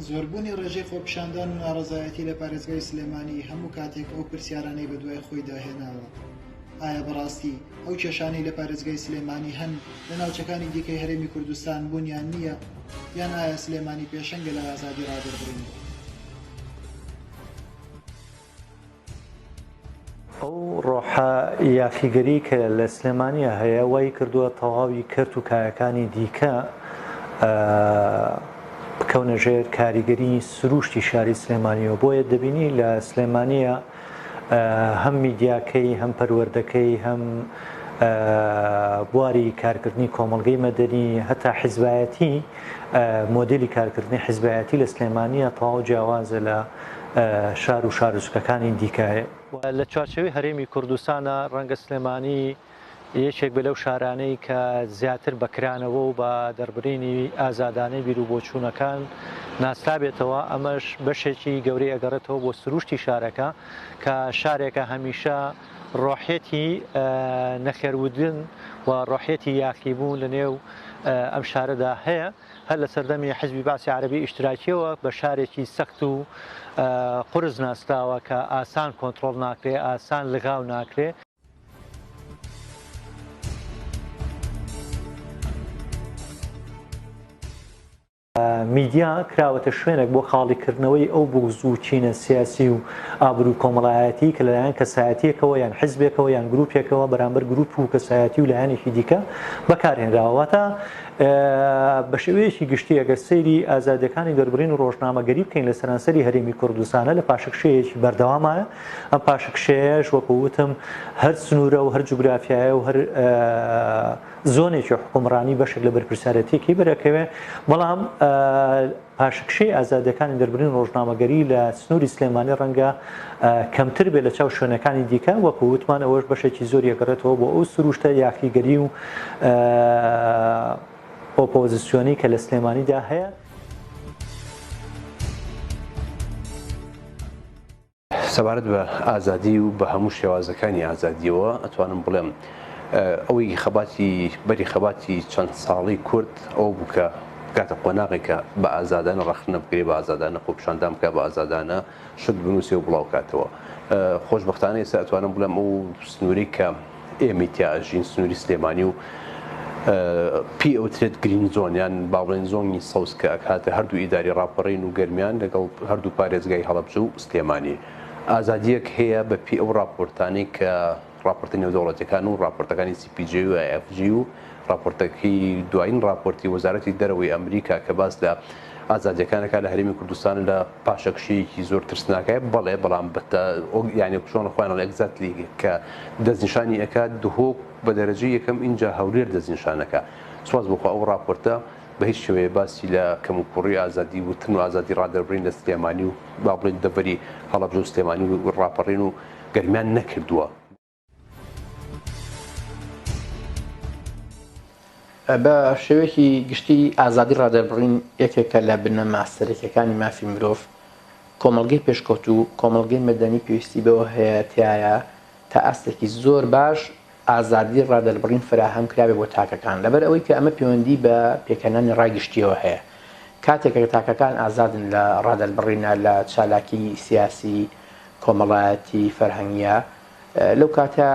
زۆربوونی ڕێژەی خۆپیشاندان و ناڕەزایەتی لە پارێزگای سلێمانی هەموو کاتێک ئەو پرسیارانەی بە دوای خۆی داهێناوە ئایا بەڕاستی ئەو کێشانەی لە پارێزگای سلێمانی هەن لە ناوچەکانی دیکەی هەرێمی کوردستان بوونیان نییە یان ئایا سلێمانی پێشەنگە لە ئازادی ڕادەربڕین ئەو ڕۆحە یاخیگەری کە لە سلێمانیە هەیە وای کردووە تەواوی کەرت و کایەکانی دیکە بکەونە ژێر کاریگەری سروشتی شاری سلێمانیەوە بۆیە دەبینی لە سلێمانیە هەم میدیاکەی هەم پەروەردەکەی هەم بواری کارکردنی کۆمەلگەی مەدەنی هەتا حیزبایەتی مۆدلی کارکردنی حیزبایەتی لە سلێمانیە تەواو جیاوازە لە شار و شاروچکەکانی دیکە. لە چوارچێوەی هەرێمی کوردستانا ڕەنگە سلێمانی یەکێک بێت لەو شارانەی کە زیاتر بە کرانەوە و بە دەربرینی ئازادانەی بیر و بۆچوونەکان ناسرابێتەوە، ئەمەش بەشێکی گەورەی ئەگەڕێتەوە بۆ سرووشتی شارەکە کە شارێکە هەمیشە ڕۆحیەتی نەخێرودن و ڕۆحیەتی یاخیبوون لە نێو ئەم شارەدا هەیە. هەر لە سەردەمی حیزبی بەعسی عەرەبی ئیشتراکییەوە بە شارێکی سەخت و قورس ناسراوە کە ئاسان کۆنتڕۆڵ ناکرێ، ئاسان لغاو ناکرێ. میدیا کراوەتە شوێنێک بۆ خاڵیکردنەوەی ئەو بوغز و کینە سیاسی و ئابرو کۆمەڵایەتی کە لەلایەن کەسایەتیەکەوە یان حیزبێکەوە یان گروپێکەوە بەرامبەر گروپ و کەسایەتی و لایەنێکی دیکە بەکارهێنراوە واتە بە شێوەیەکی گشتی ئەگەر سەیری ئازادیەکانی دەربڕین و ڕۆژنامەگەری بکەین لە سەرانسەری هەرێمی کوردستانە لە پاشکشەیەکی بەردەوامایە ئەم پاشکشەیەش وەکووتم هەر سنوورە و هەر جوگرافایە و هەر زۆنێکی حکومڕانی بەشێک لە بەرپرسیارەتێکی بەرەکەوێ بەڵام پاشەکشەی ئازادییەکانی دەربرین ڕۆژنامەگەری لە سنووری سلێمانی ڕەنگە کەمتر بێت لەچاو شوێنەکانی دیکە، وەکو وتمان ئەوەش بەشێکی زۆری ئەگەڕێتەوە بۆ ئەو سرووشتە یاخیگەری و ئۆپۆزسیۆنەی کە لە سلێمانیدا هەیە. سەبارەت بە ئازادی و بە هەموو شێوازەکانی ئازادیەوە ئەتوانم بڵێم ئەوەی خەباتی بەری خەباتی چەند ساڵی کورد ئەو بوو کە بکاتە قۆناغێک کە بە ئازادانە ڕەخنە بگرێ بە ئازادانە خۆپشاندان بکە بە ئازادانە شت بنووسێ و بڵاوکاتەوە خۆشببختانە ئێستا ئەتوانم بڵێم ئەو سنووری کە ئێ میتیا ئەژین سنووری سلێمانی و پێی ئەوترێت گرین زۆن یان باڵێن زۆنی سەوز کە ئەکاتە هەردوو ئیداری ڕاپەڕین و گەرمیان لەگەڵ هەردوو پارێزگای هەڵەبجە و سلێمانی ئازادییەک هەیە بە پێی ئەو ڕاپۆرتانەی کە ڕاپۆرتە نێودەوڵەتیەکان و ڕاپۆرتەکانی CPJ و IFG و ڕاپۆرتەکەی دوایین ڕاپۆرتی وەزارەتی دەرەوەی ئەمریکا کە باس لە ئازادیەکانەکە لە هەرێمی کوردستان لە پاشەکشەیەکی زۆر ترسناکای بەڵێ بەڵام بەتە یانی کوشۆن خۆیان لە ئەگزاتلی کە دەستنیشانی ئەکات دهۆک بە دەرەجەی یەکەم ئینجا هەولێر دەستنیشانەکە سواز بۆخوا ئەو ڕاپۆرتە بە هیچ شێوەیە باسی لە کەموکوڕی ئازادی وتن و ئازادی ڕادەربڕین لە سلێمانی و با بڵێن دەڤەری هەڵەبجە و سلێمانی و ڕاپەڕین و گەرمیان نەکردووە. بە شێوەیەکی گشتی ئازادی ڕادەربڕین یەکێکە لە بنەما سەرەکیەکانی مافی مرۆڤ کۆمەلگەی پێشکەوت و کۆمەلگەی مەدەنی پێویستی بەوە هەیە تایە تا ئاستێکی زۆر باش ئازادی ڕادەربڕین فراهەم کراوێ بۆ تاکەکان لەبەر ئەوەی کە ئەمە پەیوەندی بە پێکەنانی ڕای گشتیەوە هەیە کاتێکە تاکەکان ئازادن لە ڕادەربڕینە لە چالاکی سیاسی کۆمەڵایەتی فەرهەنگە لەو کاتە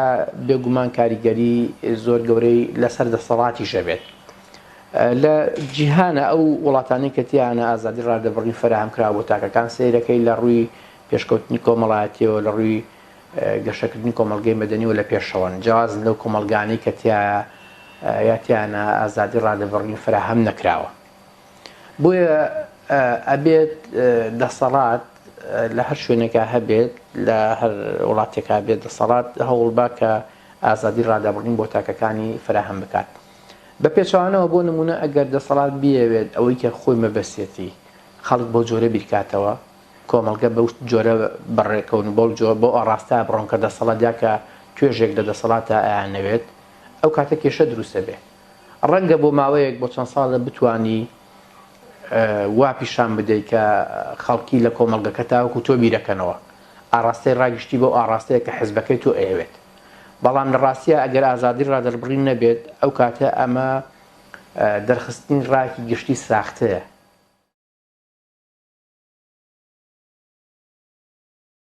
بێگومان کاریگەری زۆر گەورەی لەسەر دەسەڵاتیش ئەبێت. لە جیهانە ئەو وڵاتانەی کە تیانە ئازادی ڕادەبڕین فەراهەم کراوە بۆ تاکەکان سەیرەکەی لە ڕووی پێشکەوتنی کۆمەڵایەتیەوە لە ڕووی گەشەکردنی کۆمەڵگەی مەدەنیەوە لە پێشەوەن جیاوازن لەو کۆمەڵگانەی کە تیا یا تیانە ئازادی ڕادەبڕین فەراهەم نەکراوە. بۆیە ئەبێت دەسەڵات لە هەر شوێنێکا هەبێت لە هەر وڵاتێکا بێت دەسەڵات هەوڵبا کە ئازادی ڕادەبڕین بۆ تاکەکانی فراهەم بکات بە پێچەوانەوە بۆ نمونە ئەگەر دەسەڵات بیەوێت ئەوەی کە خۆی مەبەسیەتی خەڵک بەو جۆرە بیرکاتەوە کۆمەڵگە بەو جۆرە بەڕێکەون و بەو جۆر بۆ ئاڕاستە بڕۆن کە دەسەڵات دیاکە توێژێک لە دەسەڵاتە ئەیان نەوێت ئەو کاتە کێشە دروستە بێ ڕەنگە بۆ ماوەیەک بۆ چەند ساڵێ بتوانی وا پیشان بدەی کە خەڵکی لە کۆمەڵگەکە تاوەکو تۆ بیرەکەنەوە ئاراستەی ڕاگشتی بۆ ئاڕاستەیە کە حزبەکەی تۆ ئەیەوێت بەڵام لە ڕاستیە ئەگەر ئازادی ڕادەربڕین نەبێت ئەو کاتە ئەمە دەرخستنی ڕاکی گشتی ساختەیە.